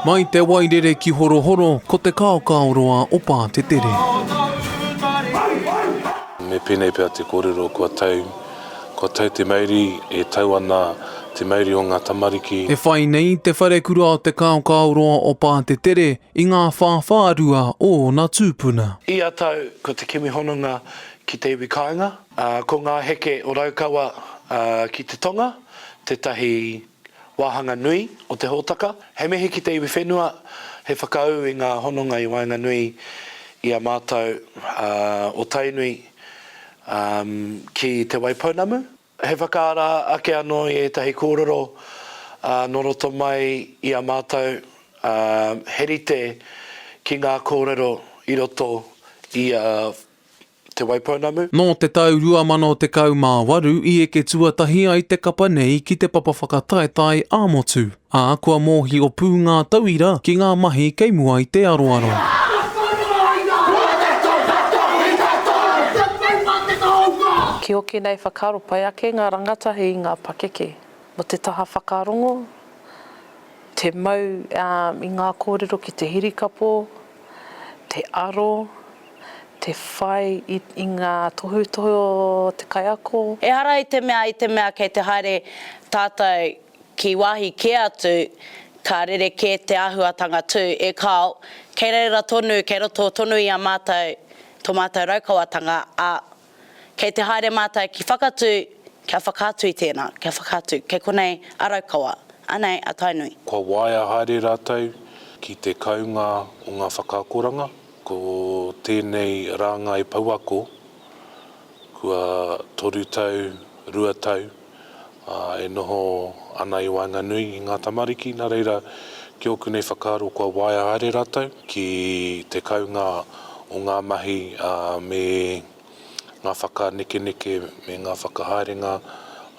Mai te Wairere ki Horohoro, ko te kaokaoroa o Pātetere. Me pēnei pea te kōrero kua tau, kua tau te mauri, e tau ana te mauri o ngā tamariki. E whai nei te wharekura o te kaokaoroa o Pātetere i ngā whāwhārua o ōna tūpuna. Ia tau, ko te kimi hononga Ki te iwi kāinga, ko ngā heke o Raukawa ki te tonga tētahi wāhanga nui o te hōtaka. He mihi ki te iwi whenua, he whakaū i ngā hononga i waenganui i a mātou o Tainui ki Te Waipounamu. He whakaara ake anō i ētahi kōrero nō roto mai i a mātou, he rite ki ngā kōrero i roto i a Te Waipounamu. Nō te tau 2018 i eke tuatahi ai te kapa nei ki te papa whakataetae ā-motu, ā, kua mōhio pū ngā tauira ki ngā mahi kei mua i te aroaro. Ki hoki nei whakaaro pai ake ngā rangatahi i ngā pakeke mō te taha whakarongo, te mau i ngā kōrero ki te hirikapo, te aro, Te whai i ngā tohutohu o te kaiako. Ehara i te mea, i te mea kei te haere tātou ki wāhi kē atu, ka rerekē te āhuatanga tū, e kāo, kei reira tonu, kei roto tonu i a mātou tō mātou Raukawatanga, ā, Kei te haere mātou ki Whakatū kia whakaatu i tēnā, kia whakaatu, kei konei a Raukawa, anei a Tainui. Kua waea haere rātou ki te kounga o ngā whakaakoranga, ko tēnei rāngai pouako kua toru tau, rua tau. ā, e noho ana i waenganui i ngā tamariki, nā reira, ki ōku nei whakaaro kua waea haere rātou ki te kounga o ngā mahi me ngā whakanekeneke me ngā whakahaerenga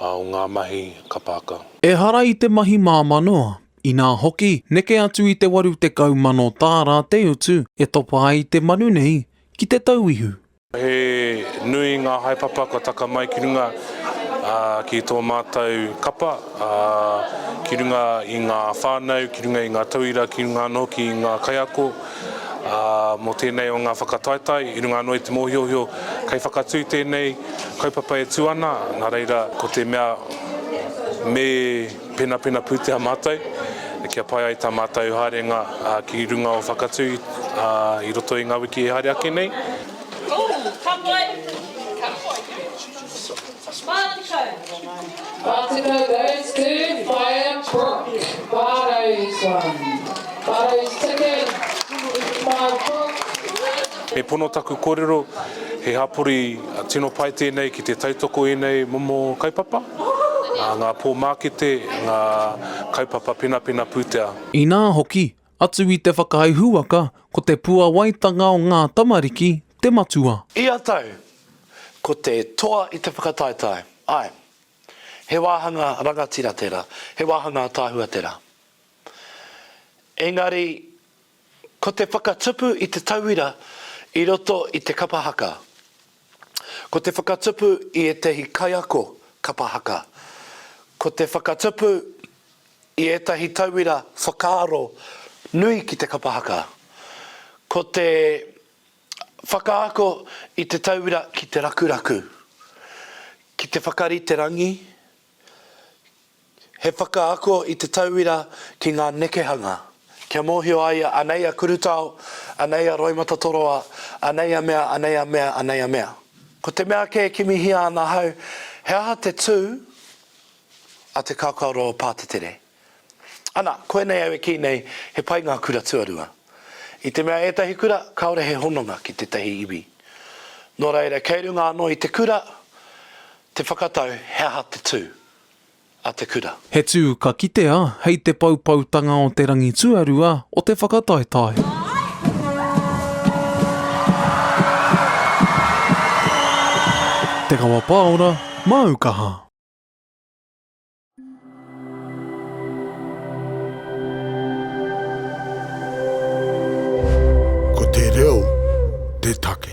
o ngā mahi kapa haka. Ehara i te mahi māmā noa, inā hoki, neke atu i te 80 mano tāra te utu e topa ai te manu nei ki te tauihu, He nui ngā haepapa kua taka mai ki runga ki tō mātou kapa, ki runga i ngā whānau, ki runga i ngā tauira, ki runga anō hoki i ngā kaiako. Mō tēnei o ngā whakataetae, i runga anō i te mōhiohio, kei whakatū tēnei kaupapa e tū ana, nā reira ko te mea me. Penapena pūtea mātou kia pai ai tā mātou haerenga ki runga o Whakatū i roto i ngā wiki e haere ake nei. Me pono taku kōrero, he hapori tino pai tēnei ki te tautoko i ēnei momo kaupapa. ā, ngā pōmākete, ngā kaupapa penapena pūtea. Inā hoki, atu i te whakaae huaka, ko te puawaitanga o ngā tamariki te matua. Ia tau, ko te toa i te whakataetae, āe, he wāhanga rangatira tērā, he wāhanga ataahua tērā. Engari, Ko te whakatupu i te tauira i roto i te kapa haka. Ko te whakatupu i ētahi kaiako kapa haka. Ko te whakatupu i ētahi tauira whakaaro nui ki te kapa haka. Ko te whakaako i te tauira ki te rakuraku, ki te whakarite rangi, He whakaako i te tauira ki ngā nekehanga. Kia mōhio a ia, anei a Kurutao, anei a Roimatatoroa, anei a mea, anei a mea, anei a mea. Ko te mea kē kimihia ana ahau, he aha te tū a te kaokaoro o Pātetere? Ana, koinei au e kī nei, he pai ngā kura tuarua. I te mea ētahi kura, kāore he hononga ki tētahi iwi. Nō reira, kei runga anō i te kura te whakatau he aha te tū. a te kura. He tū ka kitea hei te poupoutanga o te rangi tuarua o te whakataetae. Te Kawa Paora, Māu Kaha. Ko te reo te take.